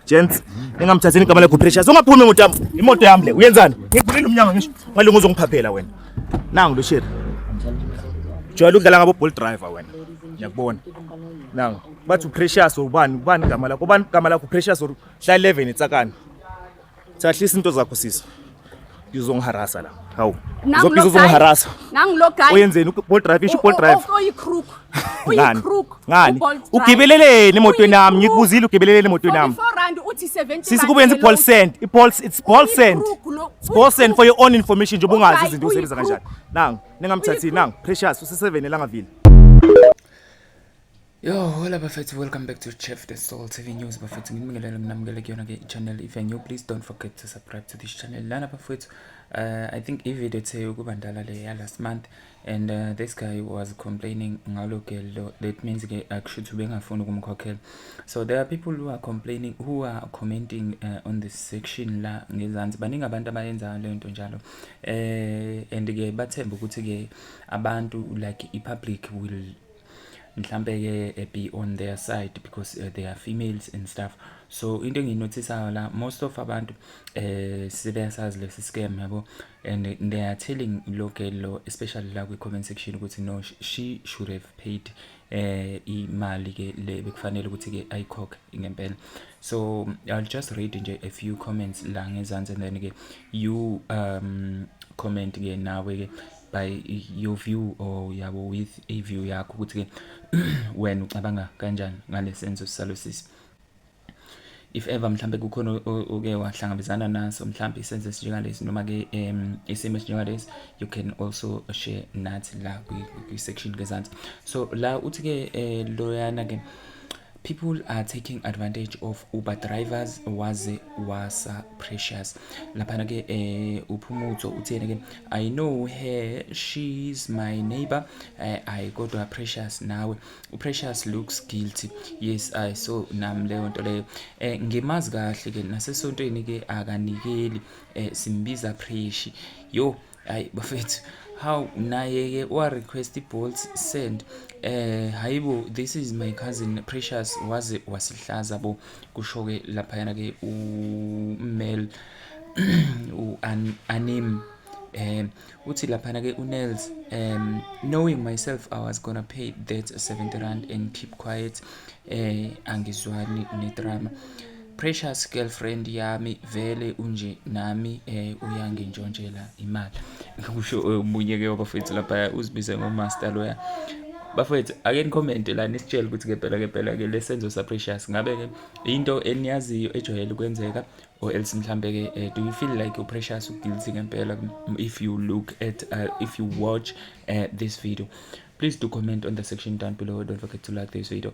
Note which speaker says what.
Speaker 1: Gents, ningamthatheni igama lakho pressure. Ungaphumi imoto yami. Imoto yami le. Uyenzani? Ngivulile umnyango ngisho. Ngalinga uzongiphaphela wena. Nangu lo sheri. Jwayele ukudlala ngabo ball driver wena. Ngiyakubona. Nangu. Bathi uprecious ubani? Ubani igama lakho? Ubani igama lakho? Precious or Hla 11 itsakani. Thathlisa into zakho sisi. Uzongiharasa la. Hawu. Uzophiza uzongiharasa. Nangilo
Speaker 2: guy. Oyenzeni uBolt drive isho
Speaker 1: uBolt drive. Oyi crook.
Speaker 2: Ngani?
Speaker 1: Ngani? Ugibeleleni emotweni yami. Ngikubuzile ugibeleleni emotweni yami.
Speaker 2: Sisi kube yenza i-ball send.
Speaker 1: I-ball it's ball send. It's ball send for your own information njengoba ungazi izinto usebenza kanjani. Nangu, ningamthathini nangu. Precious useseveni elangavile.
Speaker 3: Yo, hola bafethu, welcome back to Chef the Soul TV News bafethu. Ngibingelele mina mukele kuyona ke channel. If you're new, please don't forget to subscribe to this channel. Lana bafethu, uh, I think i-video ethe ukuba ndala le ya last month and uh, this guy was complaining ngalo girl. That means ke akushuthi uh, ubengafuni ukumkhokhela. So there are people who are complaining who are commenting uh, on this section la ngezansi. Baningi abantu abayenza le nto njalo. Eh and ke bathemba ukuthi ke abantu like i public will mhlampe ke eh, be on their side because uh, they are females and stuff so into engiyinothisayo la most of abantu eh sibesazi lesi scam yabo and they are telling lo girl lo especially la kwi comment section ukuthi no she should have paid eh imali ke le bekufanele ukuthi ke ayikhokhe ngempela so i'll just read nje a few comments la ngezansi and then ke you um comment ke nawe ke by your view or yabo with a view yakho ukuthi-ke wena ucabanga kanjani ngale senzo salosisi if ever mhlambe kukhona oke wahlangabezana naso mhlambe isenzo esinjengalesi noma ke um isimo esinjengalesi you can also share nathi la kwi-section kezansi so la uthi-ke um loyana-ke People are taking advantage of Uber drivers waze wasa precious laphana ke eh uphumutso uthene ke I know her she's my neighbor eh, I kodwa precious nawe uprecious looks guilty yes I saw nam leyo nto leyo eh ngimazi kahle ke nasesontweni ke akanikeli eh simbiza preshi yo hayi bafethu how naye-ke wa-request i-bolts send eh hayibo this is my cousin precious waze wasihlaza bo kusho-ke laphayana-ke umel u-anim um uthi laphana-ke unels um knowing myself i was gonna pay that 70 rand and keep quiet um angizwani nedrama Precious girlfriend yami vele unje nami eh uyangintshontshela imali kusho eh, omunye ke wabafethu lapha uzibize ngomaster loya bafethu ake nikhomente la nisitshele ukuthi ngempela ngempela ke lesenzo sa precious ngabe ke into eniyaziyo ejwayele ukwenzeka or else mhlambe ke uh, do you feel like you precious uguilty ngempela if you look at uh, if you watch uh, this video please do comment on the section down below don't forget to like this video